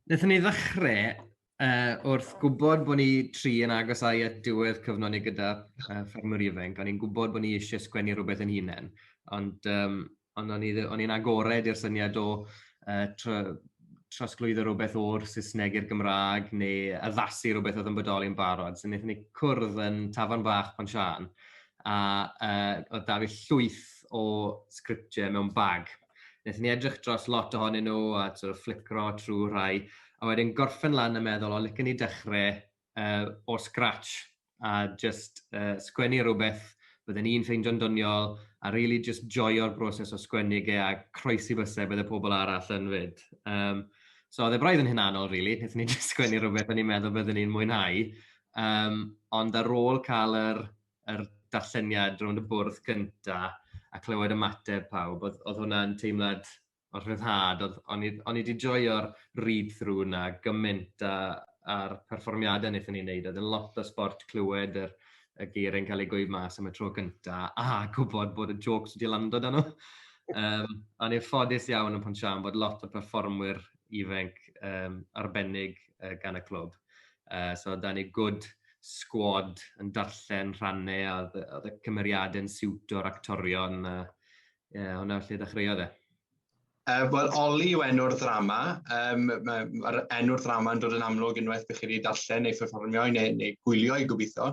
Wnaethon ni ddechrau uh, wrth gwybod bod ni tri yn agos ai at diwedd cyfnod ni gyda uh, Ffermwr Ifainc, o'n i'n gwybod bod ni eisiau sgwennu rhywbeth yn hunain, ond um, Ond o'n i ddi- o'n i'n agored i'r syniad o yy tr- trosglwyddo rhywbeth o'r Saesneg i'r Gymraeg neu addasu rhywbeth oedd yn bodoli yn barod. So wnaethon ni cwrdd yn tafarn bach Pont Siân a uh, oedd da fi llwyth o sgriptiau mewn bag. Wnaethon ni edrych dros lot ohonyn nhw a sort of flicro trwy rhai a wedyn gorffen lan a meddwl o licen i dechrau uh, o scratch a jyst yy sgwennu rwbeth bydden i'n ffeindio'n doniol a rili jyst joio'r broses o sgwennu ge a croesi byse bydde pobol arall yn 'fyd. Yym so odd e braidd yn hunanol rili, nethon ni jyst sgwennu rwbeth o'n i'n meddwl bydden i'n mwynhau yym ond ar ôl ca'l yr yr darlleniad rownd y bwrdd gynta a clywed ymateb pawb o'dd o'dd hwnna'n teimlad o'r rhyddhad, oedd, o'n i, o'n i wedi joio'r read-through yna gymaint a, a'r perfformiadau wnaethon ni'n neud, oedd yn lot o sport clywed yr, y geir yn cael ei gweud mas am y tro cynta, a gwybod bod y jokes wedi lando dan nhw. Um, o'n i'n ffodus iawn yn Ponsian bod lot o performwyr ifanc um, arbennig uh, gan y clwb. Uh, so, da ni gwrdd sgwad yn darllen rhannau a oedd y cymeriadau'n siwt o'r actorion a, Ie, yeah, hwnna lle ddechreuodd e? Uh, Wel, Oli yw enw'r ddrama. Um, Mae'r enw'r ddrama yn dod yn amlwg unwaith bych chi wedi darllen neu pherfformio neu, neu gwylio i gobeithio.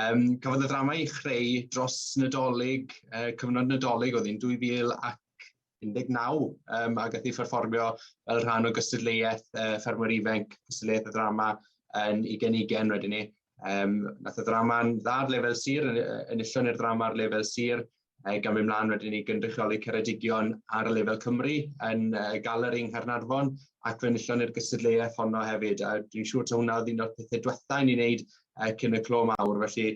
Um, cafodd y ddrama i chreu dros Nadolig, uh, cyfnod Nadolig oedd hi'n 2019, um, a gath ei pherfformio fel rhan o gystadleuaeth uh, ffermwyr ifanc, gystadleuaeth y ddrama yn i genigen wedyn ni. Um, nath y ddrama'n dda ar lefel sir, yn, yn illon i'r ddrama ar lefel sir, Ac am mynd mlaen wedyn i gynrychioli Ceredigion ar y lefel Cymru yn y galeri yng Nghaernarfon ac fe enillon ni'r gystadleuaeth honno hefyd a dwi'n siŵr taw hwnna oedd un o'r pethau diwethaf i ni wneud uh, cyn y clo mawr felly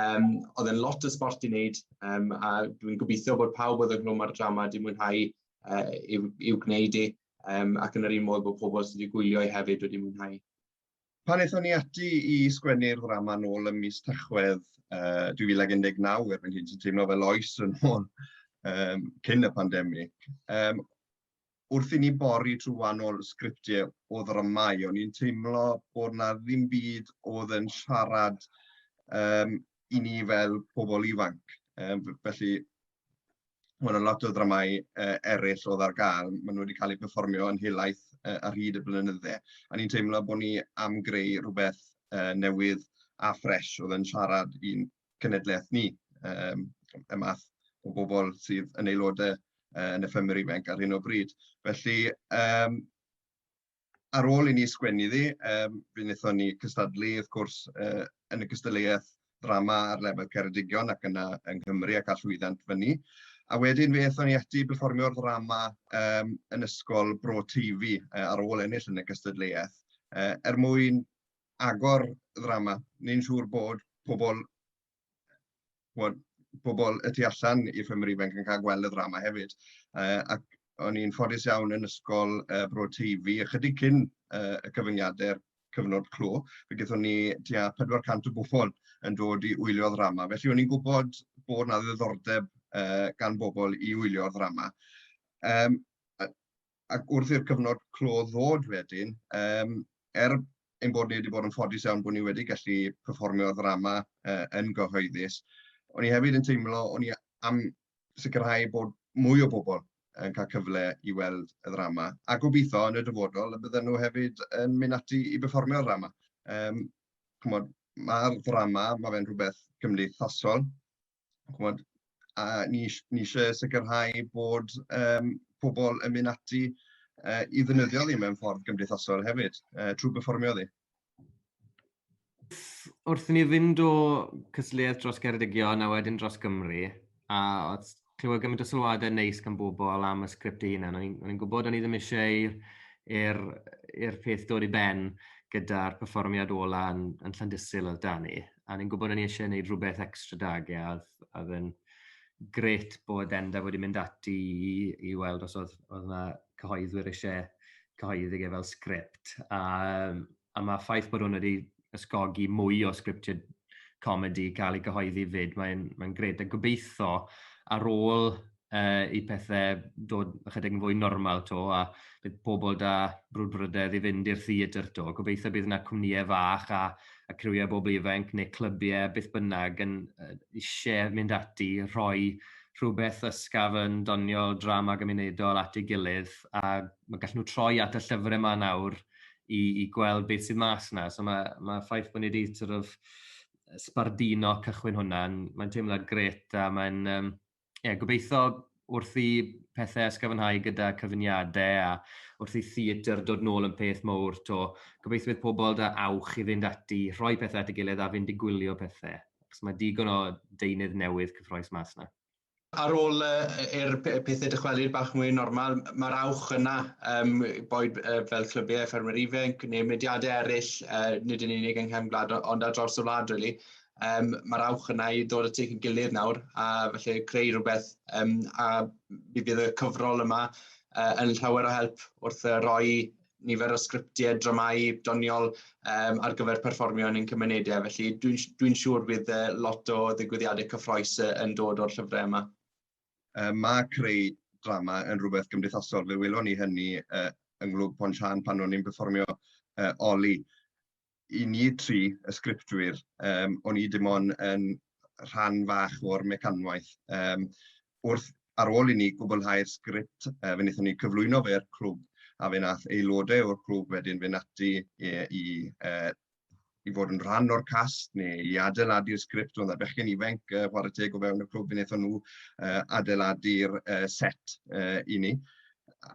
Um, oedd e'n lot o sport i wneud um, a dwi'n gobeithio bod pawb oedd yn glwm ar y drama wedi mwynhau uh, i'w, i'w gwneud i e, um, ac yn yr un modd bod pobl sydd wedi gwylio i e hefyd wedi mwynhau. Pan aethon ni ati i sgwennu'r ddrama nôl ym mis Tachwedd uh, 2019, erbyn hyn sy'n teimlo fel oes yn ôl um, cyn y pandemig, um, wrth i ni bori trwy wahanol sgriptiau o ddramau, o'n i'n teimlo bod na ddim byd oedd yn siarad um, i ni fel pobl ifanc. Um, felly, mae yna lot o ddramau uh, eraill oedd ar gael. Maen nhw wedi cael eu perfformio yn helaeth uh, ar hyd y blynydde. A ni'n teimlo bod ni am greu rhywbeth uh, newydd a ffres oedd yn siarad i'n cenedlaeth ni, um, y math o bobl sydd yn aelodau uh, yn y ffemur ifanc ar hyn o bryd. Felly, um, ar ôl i ni sgwennu iddi, um, fe wnaethon ni cystadlu, wrth gwrs, uh, yn y cystadleuaeth ddrama ar lefel Ceredigion ac yna yng Nghymru ac allwyddant fyny. A wedyn fe ethon ni ati performio'r ddrama um, yn ysgol Bro Teifi uh, ar ôl ennill yn y cystadleuaeth uh, er mwyn agor ddrama. Ni'n siŵr bod pobl chimod, pobl y tu allan i ffermydd ifanc yn cael gweld y ddrama hefyd. Yy ac o'n i'n ffodus iawn yn ysgol yy Bro Teifi ychydig cyn yy y cyfyngiadau'r cyfnod clo, fe gaethon ni tua 400 o bobl yn dod i wylio'r ddrama. Felly o'n i'n gwybod bod 'na ddiddordeb yy gan bobl i wylio'r ddrama. Yym a ac wrth i'r cyfnod clo ddod wedyn, um, er ein bod ni wedi bod yn ffodus iawn bod ni wedi gallu performio ddrama uh, yn gyhoeddus, o'n i hefyd yn teimlo, o'n i am sicrhau bod mwy o bobl yn cael cyfle i weld y ddrama, a gobeithio yn y dyfodol y bydden nhw hefyd yn mynd ati i berfformio'r ddrama. Um, Mae'r ddrama, mae fe'n rhywbeth cymdeithasol, chimod, a ni isi- ni isie sicrhau bod yym pobl yn mynd ati yy i ddefnyddio ni mewn ffordd gymdeithasol hefyd yy trwy berfformio iddi. Wrth i ni fynd o cystadleuaeth dros Geredigion a wedyn dros Gymru, a oedd clywed gymaint o sylwadau neis gan bobl am y sgript ei hunan, o'n i'n gwybod o'n i ddim eisiau i'r peth dod i ben gyda'r perfformiad ola yn Llandysul oedd 'da ni. a ni'n gwybod o'n i eisiau gwneud rhywbeth extra dag, e, a oedd yn gret bod Enda wedi mynd ati i, i weld os oedd, oedd yna cyhoeddwyr eisiau cyhoeddi e fel sgript. A, a mae ffaith bod hwn wedi ysgogi mwy o sgriptiau comedi cael ei gyhoeddi fyd, mae'n mae gret. A gobeithio ar ôl uh, i pethau dod ychydig yn fwy normal to, a bydd pobl da brwdfrydedd i fynd i'r theatr to. Gobeithio bydd yna cwmnïau fach a, a criwiau bobl ifanc neu clybiau beth bynnag yn uh, eisiau mynd ati, rhoi rhywbeth ysgaf yn doniol drama gymunedol at ei gilydd a mae gallu nhw troi at y llyfrau yma nawr i, i gweld beth sydd mas yna. So mae, mae ffaith bod ni wedi sort of, sbardino cychwyn hwnna, mae'n teimlad gret a mae'n um, ie, gobeitho wrth i pethau ysgyfynhau gyda cyfuniadau a wrth i theatr dod nôl yn peth mowr to, gobeithwydd pobl da awch i fynd ati, rhoi pethau at y gilydd a fynd i gwylio pethau, achos mae digon o deunydd newydd cyffroes mas na. Ar ôl i'r pethau dychwelyd bach mwy yn normal, mae'r awch yna, um, boed uh, fel clybiau ffermwyr ifanc neu mynediadau eraill, uh, nid yn unig yng Nghefn Gwlad ond ar draws y wlad, really, Um, Mae'r awch yna i dod y tuag yn gilydd nawr, a felly creu rhywbeth, um, a mi fydd y cyfrol yma uh, yn llawer o help wrth uh, roi nifer o sgriptiau, dramau doniol um, ar gyfer perfformio yn ein cymunedau. Felly dwi'n dwi, siŵr bydd uh, lot o ddigwyddiadau cyffroes uh, yn dod o'r llyfrau yma. Uh, mae creu drama yn rhywbeth gymdeithasol. Fe welon ni hynny uh, yng Nghlwb Pont Sian pan o'n i'n perfformio uh, Oli. i ni tri, y sgriptwyr, um, o'n i dim ond yn rhan fach o'r mecanwaith. Um, wrth ar ôl i ni gwblhau'r sgript, uh, fe wnaethon ni cyflwyno fe'r clwb, a fe nath aelodau o'r clwb wedyn fe nati i, i, uh, i fod yn rhan o'r cast neu i adeiladu'r sgript o'n bechgyn ifanc uh, chwarae teg o fewn y clwb fe wnaethon nhw uh, adeiladu'r uh, set uh, i ni.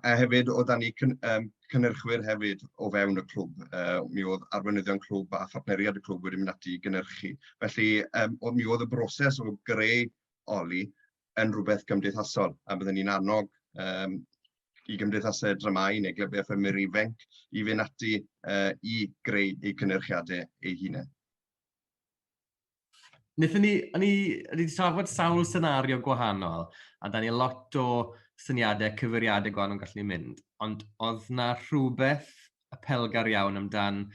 a hefyd oedd da ni cyn, um, cynnyrchwyr hefyd o fewn y clwb. Uh, mi oedd arweinyddion clwb a phartneriad y clwb wedi mynd ati i gynnyrchu. Felly um, oedd, mi oedd y broses o greu oli yn rhywbeth gymdeithasol a byddwn ni'n annog um, i gymdeithasau dramau neu glybiau ffymur ifanc i fynd ati uh, i greu eu cynnyrchiadau eu hunain. Nethon ni, o'n i, o'n i wedi trafod sawl senario gwahanol, a da ni lot o syniadau, cyfeiriadau gwahanol gallen ni mynd, ond oedd na rhywbeth apelgar iawn amdan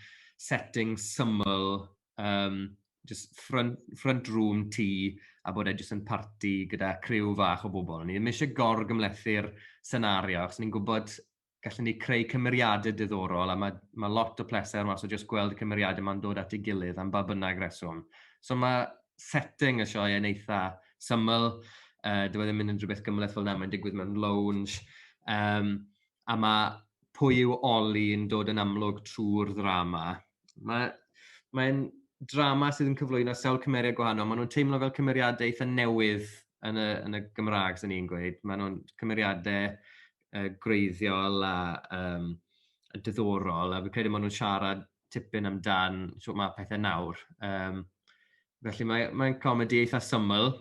setting syml, um, just front, front room tŷ, a bod e jyst yn parti gyda criw fach o bobl. O'n i ddim eisiau gorgymlethu'r senario, achos ni'n gwybod gallen ni creu cymeriadau diddorol, a mae, mae lot o pleser mas o just gweld y cymeriadau ma'n dod at ei gilydd am ba bynnag reswm. So mae setting y sioe yn eitha syml, uh, dyw e ddim yn unrhyw beth gymleth fel yna, mae'n digwydd mewn lounge, um, a mae pwy yw Oli yn dod yn amlwg trwy'r ddrama. Mae'n mae drama sydd yn cyflwyno sawl cymeriad gwahanol, maen nhw'n teimlo fel cymeriadau eitha newydd yn y, yn y Gymraeg, sy'n ni'n gweud. Maen nhw'n cymeriadau yy gwreiddiol a yym yn diddorol, a fi'n credu ma' nw'n siarad tipyn amdan shwt ma' pethe nawr. Yym felly mae mae'n comedi eitha syml,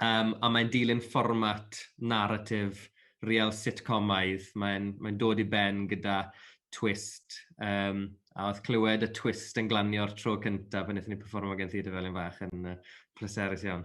um, a mae'n dilyn fformat narratif real sitcomaidd. Mae'n mae'n dod i ben gyda twist, um, a oedd clywed y twist yn glanio'r tro cyntaf pan wnaethon ni performo gen Theatr Felin Fach yn uh, pleserus iawn.